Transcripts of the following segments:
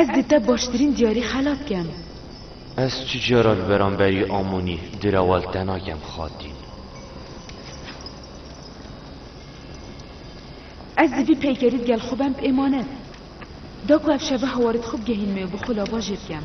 Ez di te baştirîn diyarî xelat kem. Ez tu cara li beramberî Amonî direwal te nakem xatîn. Ez di vî peykerî digel xwe bem bi êmanet. Da ku ev şeve hawarî di xwe bigehîn me û bi xwe lava jê bikem.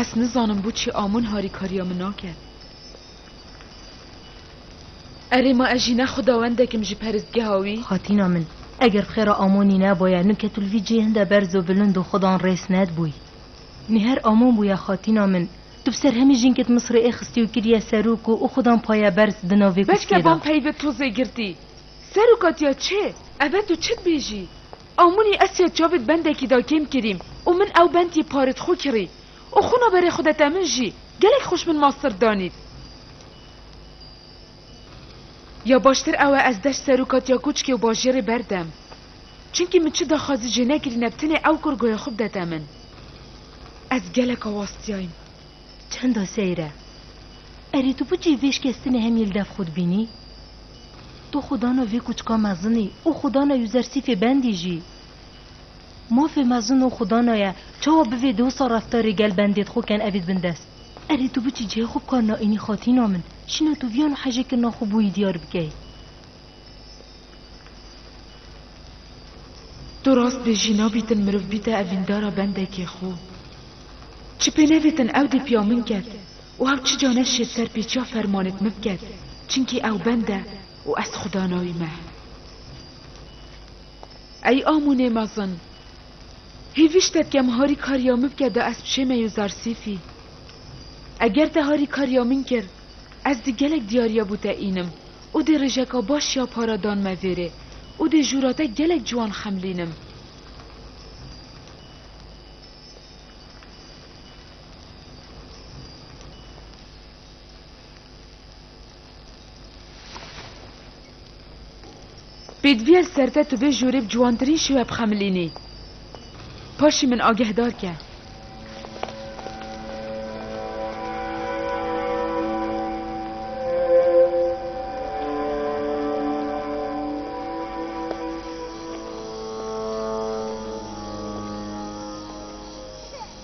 Ez nizanim bû çi amin harîkariya min nake. Erê ma ez jî ne xudawendekim ji peristgeha wî. Xatîna min, eger bi xêra Amonî neboye, nûke tu li vî cihê hinde berz û bilind û xudan rêz nedibûyî. Nîher Amon bûye xatîna min. Tu bi ser hemî jînkê di Misirê ê xistî û kiriye serok û û xudan paye berz di navê Bes kuskê de. keban peyve tozê girtî. Seroka diya çi? Ev e tu çi dibêjî? Amunî ez tiya çavê di bendekî de kêm kirîm û min ew bend yê parê di xwe kirî û xwina berê xwe de te min jî gelek xweş min master danî. Ya baştir ew e ez deş seroka tiya koçikê û bajêrê berdem. Çimkî min çi daxwazî jê nekirîne bi tenê ew kurgoya xwe bidete min. Ez gelek awastiyayîm. Çenda seyr e. Erê tu bicî vê şikestinê hemî li dev xwe dibînî? Tu xwe dana vê kûçika mezinî û xwe dana Yuzersîfê bendî jî. Mafê mezin û xwe dana ye çawa bi vê dewsa reftarê gel bendê dixwe ken evî dibin dest. Erê tu bicî cihê xwe bi kar naînî xatîna min. Şîna tu viyan û hejê kirina xwe bûyî diyar bikey. Tu rast dê jî nabîtin miriv bîte evîndara bendekê xo. Çi pê nevêtin ew dê piya min ket û hew çi ca ne şêt ser pêçiya fermanêt min biket çinkî ew bend e û ez xuda nayî me. Ey amûnê mezin! Hêvîştek kem harî kariya min bike da ez bişême yo Zarsîfî. Eger te harî kariya min kir, Ez dê gelek diyariya bû te înim û dê rêjeka baş ya para dan me vêrê û dê jûra te gelek ciwan xemlînim. Pêdiviyel ser te tu bê jorê bi ciwantirîn şêwe bixemilînî. Paşî min agehdar ke.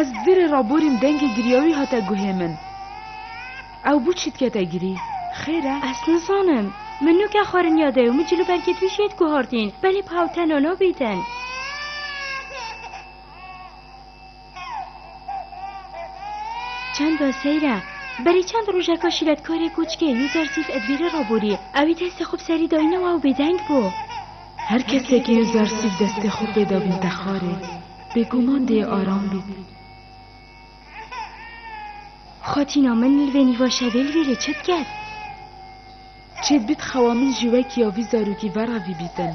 Ez vîrê ra borîm dengê giriyawî hate guhê min. Ew bû çî dikete girî. Xêr e? Ez nizanim. Min nûke xwerinya dew, min cil û bergê twî jê diguhertîn. Belê bi hewl tena nabîtin. Çanda seyr e. Berê çend rojeka şîretkarê koçikê Yuzarsîf ez vîrê ra borî. Ewî destê xwe bi serî dayîne û ew bêdeng bû. Her kesê ke Yuzarsîf destê xwe pê dabîn texarê. Bêguman dê aram bît. Xatîna min li vê nîva şevê li vê lê çi diket? Çê bit xewa min ji wekî ya vî zarokî ve re vî bîtin.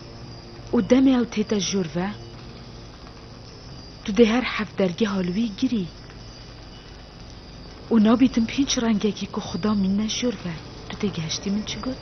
Û demê ew tê te jor ve, tu dê her heft dergeha li wî girî. Û nabî tim pênc rengekî ku Xuda mînne jor ve. Tu tê gihiştî min çi got?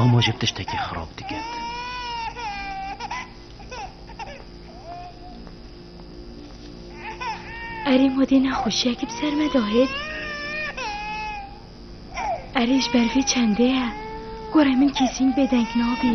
Amo ji tiştekî xirab diket. Erê ma dê nexweşiyekî bi ser me dahêt. Erê ji ber vê çendê ye. Gorê min kesîn bêdeng nabî.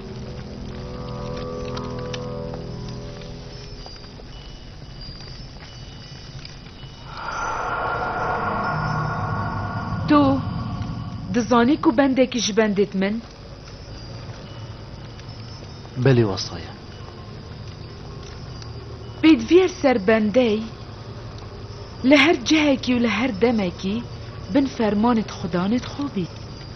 Tu dizanî ku bendekî ji bendê dimin? Belê wesaya. Pêdiviyêr ser bendey li her cihekî û li her demekî bin fermanê dixwedanê dixwe bît.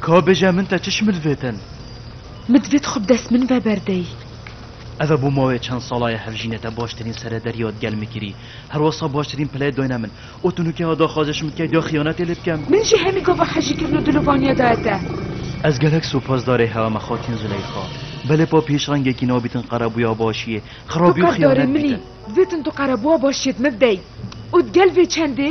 Ka bêje min te çiş midvêtin? Min divê tu xwe bi dest min ve berdey. Ev e bo mawê çend sala ye hevjînê te baştirîn serederiya di gel min kirî. Her wasa baştirîn pileyê dayne min. Û tu nûke ha daxwaze ji min dikey da xiyanetê lê bikem? Min jî hemî gava hejîkirin û dilovaniya daye te. Ez gelek supasdarê hewa me xatîn Zileyxa. Belê pa pêşangekî nabîtin qerebuya başiyê. Xerabî û xiyanet bîtin. Divêtin tu qerebuwa başiyê di min ve bidey. Û di gel vê çendê?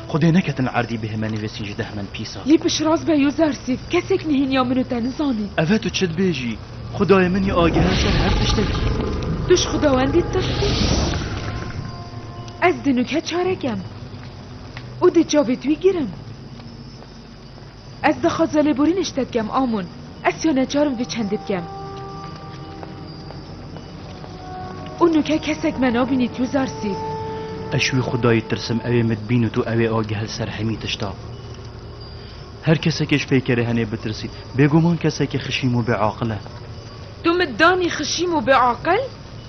Xwedê neketin erdî bihê me nivîsîn ji deh men pîsa. Lê pişiras be yo zersîf. Kesek nihêniya min û te nizanî. Eve tu çi dibêjî? Xwedayê min î ageha ser her tiştekî. Tu ji xwedawendî tirsî? Ez di nûke çarek em û di çavê tu yî girim. Ez dixwaza lêborînê ji te dikem Amûn. Ez siya neçar im vê çendê bikem. Û nuke kesek me nabînî tu zarsîf. Ez ji wî xwedayî tirsim ewê min bîn û tu ewê agihel ser hemî tişta. Her kesekê ji peykerê henê bitirsî. Bêguman kesekî xişîm û bêaqil e. Tu min danî xişîm û bêaqil?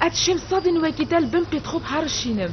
Ez şêm sedên wekî te li bin qîd xwe bi herişînim.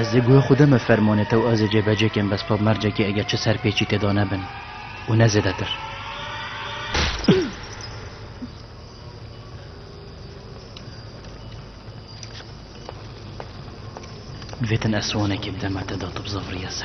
Ez ê guya xwe deme fermanê te û ez ê cêbecê kim bes pap mercekê eger çi serpêçî tê da nebin û ne zêdetir. Vêtin eswanekê bideme te da tu bi zevriya ser